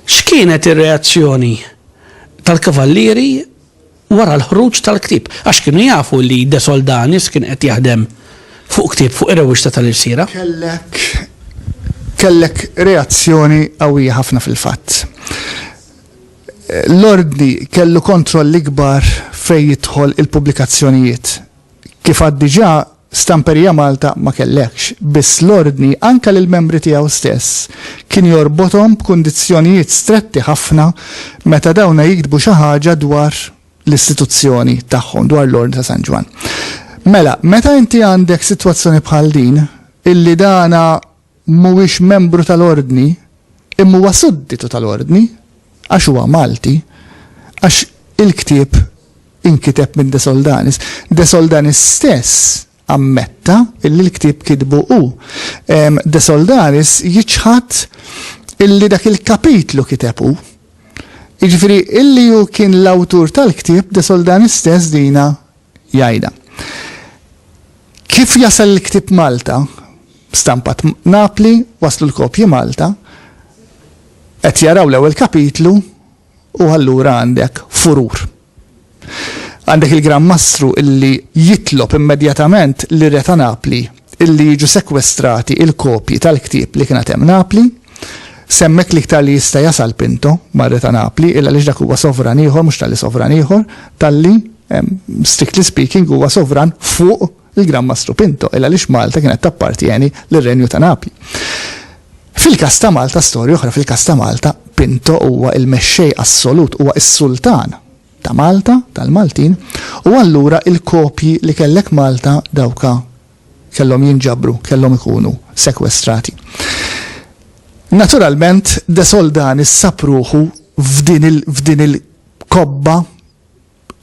X'kienet ir-reazzjoni tal-kavallieri wara l-ħruġ tal-ktib? Għax kienu jafu li De Soldanis kien qed jaħdem fuq ktib fuq ir-rewwixta tal-irsira. Kellek kellek reazzjoni qawwija ħafna fil-fatt. L-Ordni kellu kontroll ikbar fejn jidħol il-pubblikazzjonijiet. Kif għad diġà, Stamperija Malta ma kellhekx, biss l-Ordni anke lill-membri tiegħu stess kien jorbothom b'kundizzjonijiet stretti ħafna meta dawna jiktbu xi ħaġa dwar l-istituzzjoni tagħhom, dwar l-Ordni ta' San Ġwann. Mela, meta inti għandek sitwazzjoni bħal din, illi dana mhuwiex membru tal-Ordni, imma huwa sudditu tal-Ordni, għax huwa Malti, għax il-ktieb inkiteb minn De Soldanis. De Soldanis stess ammetta illi l-ktieb kitbu hu. De Soldanis jiċħad illi dak il-kapitlu kiteb hu. Jiġifieri illi hu kien l-awtur tal-ktieb De Soldanis stess dina jgħidha. Kif jasal il-ktieb Malta, stampat Napli, waslu l-kopji Malta, qed jaraw l-ewwel kapitlu u allura għandek furur. Għandek il-Gran Mastru illi jitlob immedjatament li re ta' Napli li jiġu sekwestrati il-kopji tal-ktieb li kienet hemm Napli, s'hemmhekk l-iktar li jista' jasal Pinto, mar-Re ta' Napli, illa għaliex dak huwa sovran ieħor, mhux talli sovran ieħor, talli, strictly speaking, huwa sovran fuq il-Gran Mastru Pinto, illa għaliex Malta kienet tappartjeni lir-Renju ta' Napli. Fil-każ ta' Malta, storja oħra, fil-każ ta' Malta, Pinto huwa l-mexxej assolut, huwa s-sultan. ta' Malta, tal-Maltin, u allura il-kopji li kellek Malta dawka kellhom jinġabru, kellhom ikunu sekwestrati. Naturalment De Soldani sab ruħu f'din il-kobba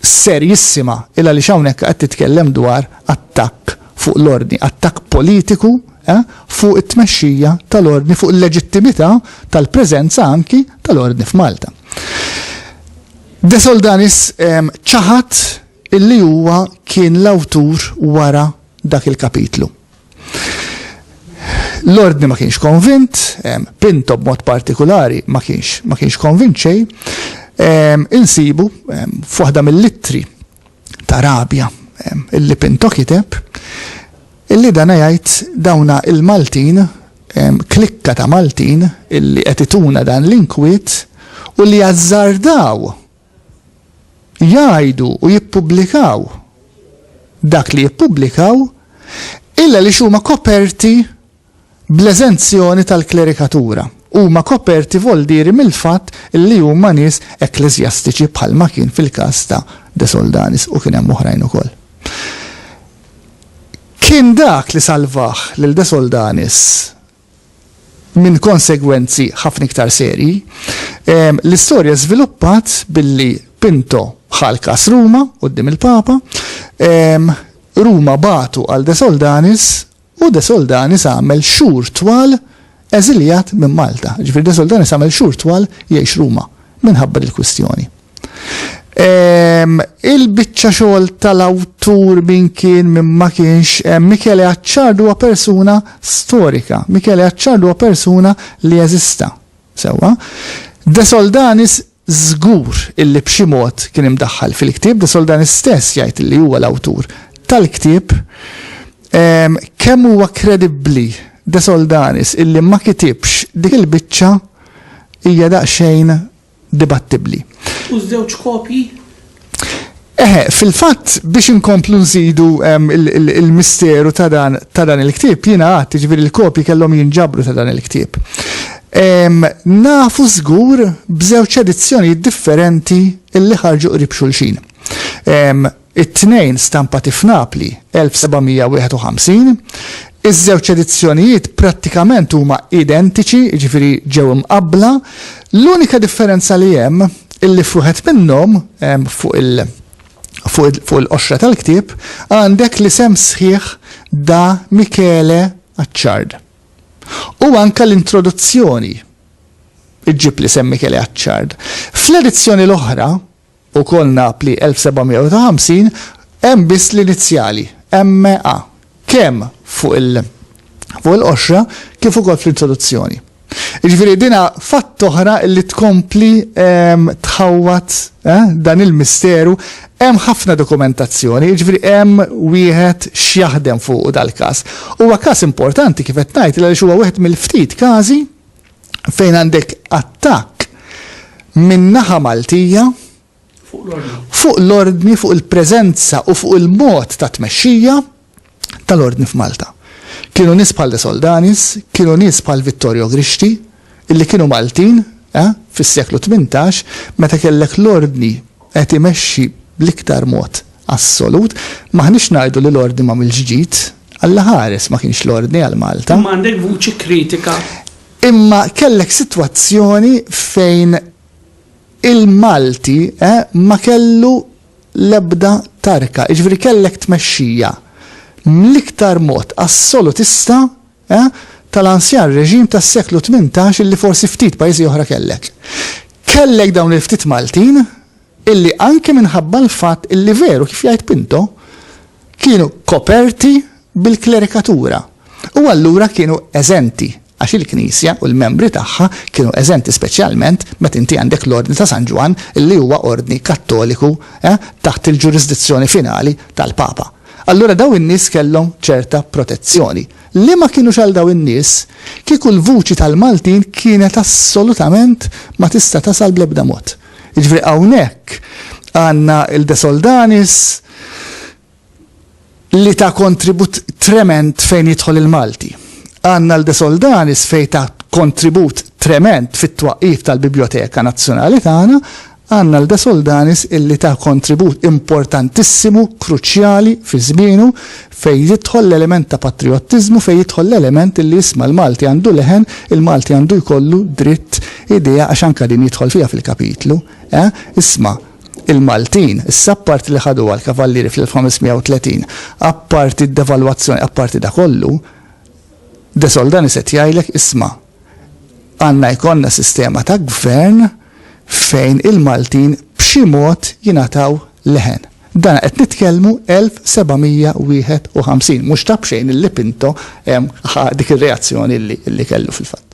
serjissima il għaliex hawnhekk qed titkellem dwar attakk fuq l-ordni, attakk politiku eh, fuq it-tmexxija tal-ordni, fuq il-leġittimità tal-preżenza anki tal-ordni f'Malta. De Soldanis ċaħad illi huwa kien l-awtur wara dak il-kapitlu. L-ordni ma kienx konvint, Pinto b'mod partikolari ma kienx ma kienx konvint xejn, insibu f'waħda mill-ittri ta' rabja. Illi Pinto kiteb illi dana jgħid dawna il-Maltin, klikka ta' Maltin illi qed ituna dan l-inkwiet u li azzardaw jgħidu u jippubblikaw dak li jippubblikaw illa li huma koperti bl-eżenzjoni tal-klerikatura, huma koperti voldieri mill-fatt li huma nies ekkleżjastiċi bħalma kien fil-każ ta' De Soldanis u kien hemm oħrajn ukoll. Kien dak li salvah lil De Soldanis minn konsegwenzi ħafna iktar serji. L-istorja żviluppat billi Pinto ħal kas Ruma quddiem il-Papa, Ruma batu għal De Soldanis U De Soldanis għamel xhur twal eżiljat minn Malta. Jiġifieri De Soldanis għamel xhur twal jgħix Ruma minħabba dil-kwistjoni. Il-biċċa xogħol tal-awtur min kien min ma kienx, Michele Acciardo huwa persuna storika. Michele Acciardo huwa persuna li eżista. Sewwa. De Soldanis Żgur illi b'xi mod kien imdaħħal fil-ktieb, de Sol dan istess jgħid illi huwa l-awtur tal-ktieb. Kemm huwa kredibbli de Soldanis illi ma kitibx dik il-biċċa hija daqsxejn dibattibbli. U ż-żewġ kopji Eħe, fil-fatt biex inkomplu nżidu ehm, il-misteru ta' dan il-ktieb, jiena għad, ġifieri l-kopji kellhom jinġabru ta' dan il-ktieb. Ehm, nafu żgur b'żewġ edizzjonijiet differenti illi ħarġu qrib xulxin. Ehm, it-tnejn stampati f'Napli 1751, Iż-żewġ edizzjonijiet prattikament huma identiċi, jiġifieri ġew imqabbla, l-unika differenza li hemm illi f'wieħed minnhom, fuq il fuq il-qoxra tal-ktieb, għandek l-isem sħiħ Da Michele Acciard. U anke l-introduzzjoni ġġib l-isem Michele Acciard. Fl-edizzjoni l-oħra, Ukoll Napli 1750, hemm biss l-inizjali, MA, kemm fuq il fuq il-qoxra kif ukoll fl-introduzzjoni. Jiġifieri din fatt oħra li tkompli ehm, tħawwad eh, dan il-misteru hemm ħafna dokumentazzjoni, jiġifieri hemm wieħed x'jaħdem fuq dal-każ. Huwa każ importanti kif qed ngħid għaliex huwa wieħed mill-ftit każi fejn għandek attakk minn naħa Maltija fuq l-ordni, fuq il-preżenza u fuq il-mod ta' tmexxija tal-ordni f'Malta. Kienu nies bħal De Soldanis, kienu nies bħal Vittorio Grixti, illi kienu Maltin eh, fis-seklu 18 meta kellek l-ordni qed imexxi bl-iktar mod assolut, m'aħniex ngħidu li l-Ordni m'għamilx ġid, Alla ħares ma kienx l-Ordni għal Malta. Imma għandek vuċi kritika. Imma kellek sitwazzjoni fejn il-Malti ma kellu l-ebda tarka, jiġifieri kellek tmexxija mill-iktar mod assolutista E, tal-anzjan reġim tas-seklu tmintax illi forsi ftit pajjiżi oħra kellek. Kellek dawn il-ftit Maltin illi anke minħabba l-fatt illi veru kif jgħid Pinto kienu koperti bil-klerikatura u allura kienu eżenti għax il-Knisja u l-membri tagħha kienu eżenti speċjalment meta inti għandek l-Ordni ta' San Ġwann illi huwa ordni Kattoliku eh, taħt il-ġurisdizzjoni finali tal-Papa. Allura dawn in-nies kellhom ċerta protezzjoni. Li ma kinux għal dawn in-nies, kieku l-vuċi tal-Maltin kienet assolutament ma tista' tasal bl-ebda mod. Jiġifieri hawnhekk għandna il-De Soldanis li ta kontribut tremend fejn jidħol il-Malti. Għandna l-De Soldanis fejn ta kontribut tremend fit-twaqqif tal-Bibljoteka Nazzjonali tagħna, Għandna l-De Soldanis illi ta kontribut importantissimu, kruċjali, fi żmienu, fejn jidħol l-element ta' patrijottiżmu, fejn jidħol l-element illi isma' l-Malti għandu leħen, il-Malti għandu jkollu dritt, idea, għax anke din jidħol fiha fil-kapitlu, eh, isma', il-Maltin, issa apparti li ħaduha l-Kavallieri fl-1530, apparti d-devalwazzjoni, apparti da kollu, De Soldanis qed jgħidlek, isma', Għandna jkollna sistema ta' gvern fejn il-Maltin b'xi mod jingħataw leħen. Dan qed nitkellmu 1751, mhux ta' b'xejn illi Pinto ħa dik ir-reazzjoni li kellu fil-fatt.